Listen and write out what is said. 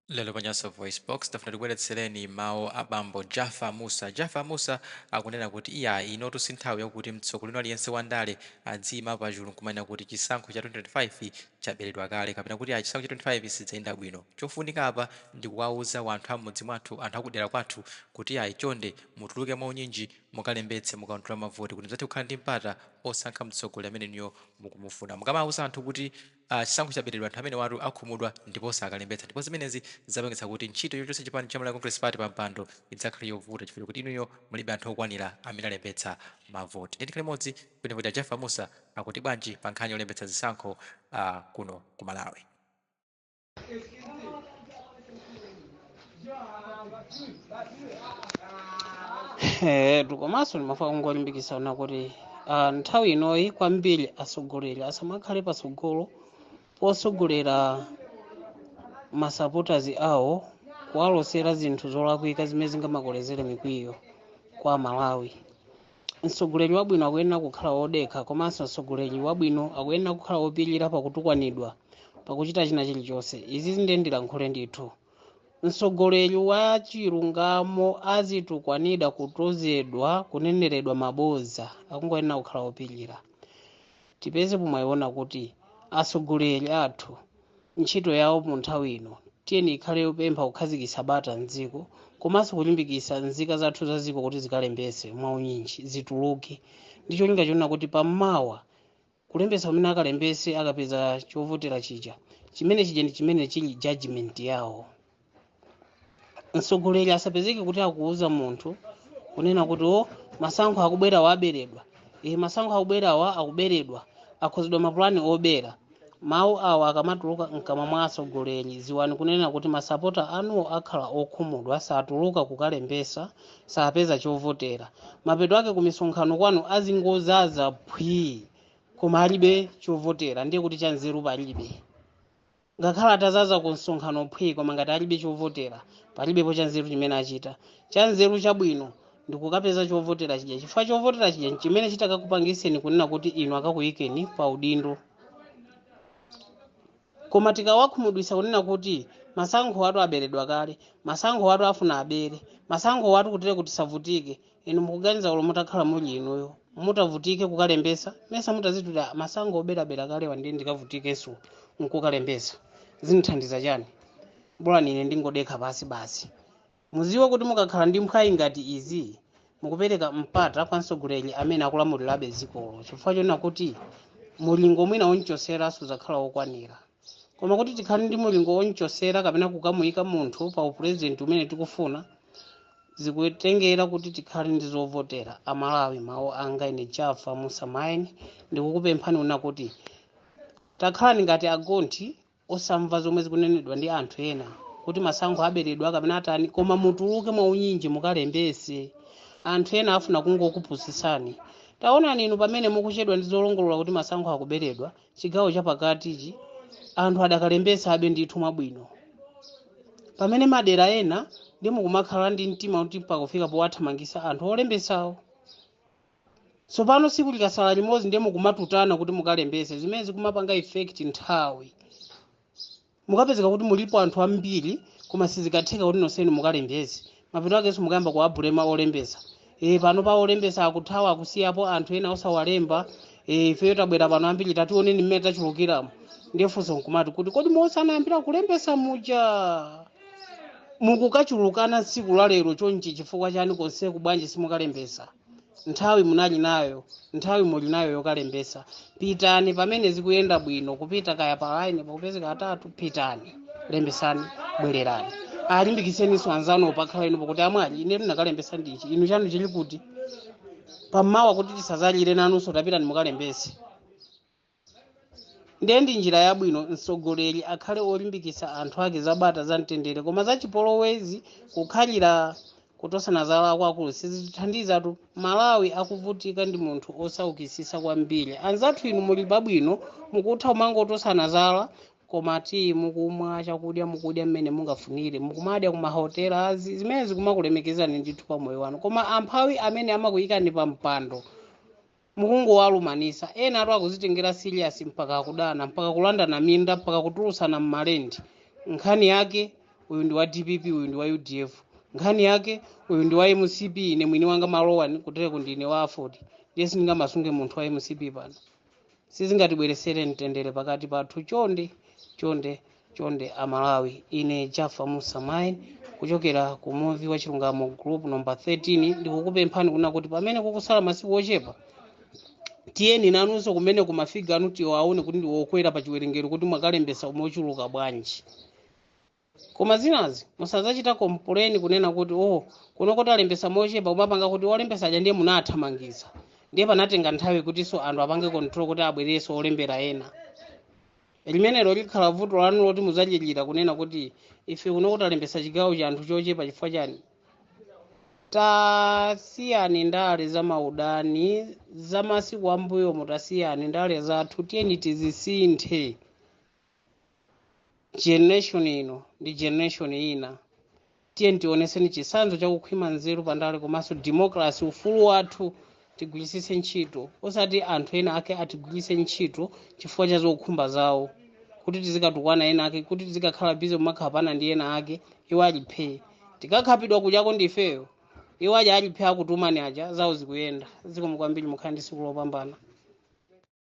Lero pa Nyasa VoiceBox, tafuna tikubweretsereni mawu a bambo Jaffa Mussa. Jaffa Mussa akunena kuti iyayi, inotu si nthawi yakuti mtsogoleri aliyense wa ndale adziima pachulu n'kumanena kuti chisankho cha 2025 chaberedwa kale kapena kuti ayi chisankho cha 2025 sichidzayenda bwino. Chofunika apa ndi kuwauza wanthu a m'mudzi mwathu, anthu a kudera kwathu kuti iyayi chonde, mutuluke mwaunyinji mukalembetse, m'kaundula wa mavoti kuti mudzathe kukhala ndi mpata osankha mtsogoleri amene inuyo mukumufuna. Mukamauza anthu kuti. a chisankho chaberedwa anthu amenewatu akhumudwa ndipo sakalembetsa ndipo zimenezi zidzapangitsa kuti ntchito yochotsa chipani cha Malawi Congress Party pampando idzakhale yovuta chifukwa chokuti inuyo mulibe anthu okwanila amene alembetsa mavoti ndiye tikhale limodzi tione kuti a Jaffa Mussa akuti bwanji pa nkhani yolembetsa zisankho kuno ku Malawi. Eh, komanso ndimafuna kungolimbikitsana kuti ah, nthawi inoyi kwambiri atsogoleri asamakhale patsogolo potsogolera masapotazi awo kuwalosera zinthu zolakwika zimene zingamakolezere mikwiyo kwa aMalawi mtsogoleri wabwino akuyenera kukhala wodekha komanso mtsogoleri wabwino akuyenera kukhala wopirira pakutukwanidwa pakuchita china chilichonse izi nde ndilankhule ndithu mtsogoleri wa chilungamo azitukwanidwa kutozedwa kuneneredwa mabodza akungoyenera kukhala wopirira tipeze pomwe yonena kuti atsogoleri athu ntchito yawo mu nthawi ino tiyeni ikhale yopempha kukhazikitsa bata mdziko komanso kulimbikitsa nzika zathu za dziko kuti zikalembetse mwaunyinji zituluke ndi cholinga chonena kuti pamawa kulembetsa kumene akalembetse akapeza chovotera chija chimene chija ndi chimene chili judgment yawo mtsogoleri asapezeke kuti akuuza munthu kunena kuti o masankho akubwerawa aberedwa e masankho akubwerawa akuberedwa akonzedwa mapulani obera mawu awa akamatuluka mkamwa mwa atsogoleri ziwani kunena kuti masapota anuwo akhala okhumudwa satuluka kukalembesa sapeza chovotera mapeto ake kumisonkhano kwanu azingozaza phwii koma alibe chovotera ndiye kuti chanzeru palibe ngakhale atazaza ku msonkhano phwi koma ngati alibe chovotera palibepo chanzeru chimene achita chanzeru chabwino ndikukapeza chovotera chija chifukwa chovotera chija nchimene chitakakupangiseni kunena kuti inu akakuyikeni pa udindo koma tikawakhumudwisa kunena kuti masankhowatu aberedwa kale masankhowatu afuna abere masankhowatu kutire kuti asavutike inu mukuganiza olo mutakhala muli inuyo mutavutike kukalembesa mesa mutaziti a masankho oberabera kalewa ndiye ndikavutikenso nkukalembesa zinthandiza chani bolani ine ndingodekha pasi basi muziwe kuti mukakhala ndi mphwayi ngati izi mukupereka mpata kwa mtsogoleri amene akulamulirabe dzikolo chifukwa chonena kuti mulingo mwina omchosera suzakhala wokwanira koma kuti tikhale ndi mulingo wonchosera kapena kukamuika munthu pa upulezidenti umene tikufuna zikutengera kuti tikhale ndi zovotera amalawi mawu anga ine jafa musa maini ndikukupemphani kunena kuti takhalani ngati agonthi osamva zomwe zikunenedwa ndi anthu ena kuti masankho aberedwa kapena atani koma mutuluke mwaunyinji mukalembese anthu ena afuna kungokupusisani taonani inu pamene mukuchedwa ndi zolongolola kuti masankho akuberedwa chigawo chapakatichi anthu adakalembetsabe ndithu mwabwino pamene madera ena ndi mukumakhala ndi mtima kuti pakufika powathamangisa anthu olembetsawo tsopano tsiku likasala limodzi ndiye mukumatutana kuti mukalembetse zimene zikumapanga effect nthawi mukapezeka kuti mulipo anthu ambiri koma sizikatheka kuti nonsenu mukalembese mapeto akenso mukayamba kuwabulema olembesa e, pano pa olembesa akuthawa akusiyapo anthu ena osawalemba e, ifeyo tabwera pano ambiri tationeni mmene tachulukiramo ndiye funso nkumati kuti kodi momwe anayambira kulembesa muja mukukachulukana tsiku la lero chonchi chifukwa chani konseku bwanji simukalembesa Nthawi munali nayo, nthawi muli nayo yokalembetsa. Pitani pamene zikuyenda bwino, kupita kaya pa line pakupezeka atatu, pitani lembetsani, bwererani. Alimbikitseninso anzanu pakhala inu pakuti amwali ine ndinakalembetsa ndi ichi, inu chanu chili kuti? Pammawa kuti tisadzalire nanunso, tapitani mukalembetse. ndiye ndi njira yabwino mtsogoleri akhale olimbikitsa anthu ake zabata za mtendere koma zachipolowezi kukhalira kutosana zala akwakulu sizitithandizatu malawi akuvutika ndi munthu osaukitsitsa kwambiri anzathu inu muli pabwino mukutha kumangotosana zala koma ti mukumwa chakudya mukudya mmene mungafunire mukumadya ku mahotela azi zimene zikumakulemekezani ndithu pa moyo wanu koma amphawi amene amakuyikani pa mpando mukungowalumanisa enatu akuzitengera serious mpaka akudana mpaka kulandana minda mpaka kutulutsana mmalendi nkhani yake uyu ndi wa dpp uyu ndi wa udf nkhani yake uyu ndi wa mcp ine mwini wanga malowa kutereko ndine wa aford ndiye sindingamasunge munthu wa mcp pano sizingatibweresere mtendere pakati pathu chonde chonde chonde amalawi ine jaffa musa maini kuchokera ku muvi wa chilungamo group number 13 ndikukupemphani kunena kuti pamene kukusala masiku ochepa tiyeni nanunso kumene mafiga anu tiwaone kuti ndiwokwera pa chiwerengero kuti mwakalembesa mochuluka bwanji koma zinazi musadzachita complain kunena kuti oh kuno kuti alembesa mochepa umapanga kuti olembesa aja ndiye munathamangisa ndiye panatenga nthawi kutinso anthu apange control kuti abwereso olembera ena limenelo likhala vuto lanu loti mudzachilira kunena kuti ife kuno kutalembetsa chigawo cha anthu chochepa chifukwa chani tasiyani ndale za maudani za masiku ambuyomu tasiyani ndale zathu tiyeni tizisinthe generation ino ndi generation ina tiyeni tionetseni chitsanzo cha kukhwima nzeru pandale komanso democracy ufulu wathu tigwiritsitse ntchito osati anthu ena ake atigwiritse ntchito chifukwa cha zokhumba zawo kuti tizikatukwana ena ake kuti tizikakhala busy kumakhapana ndi ena ake iwo ali phee tikakhapidwa kujako ndifeyo iwo aja ali phee akutumani aja zawo zikuyenda zikomo kwambiri mukhale ndi tsiku lopambana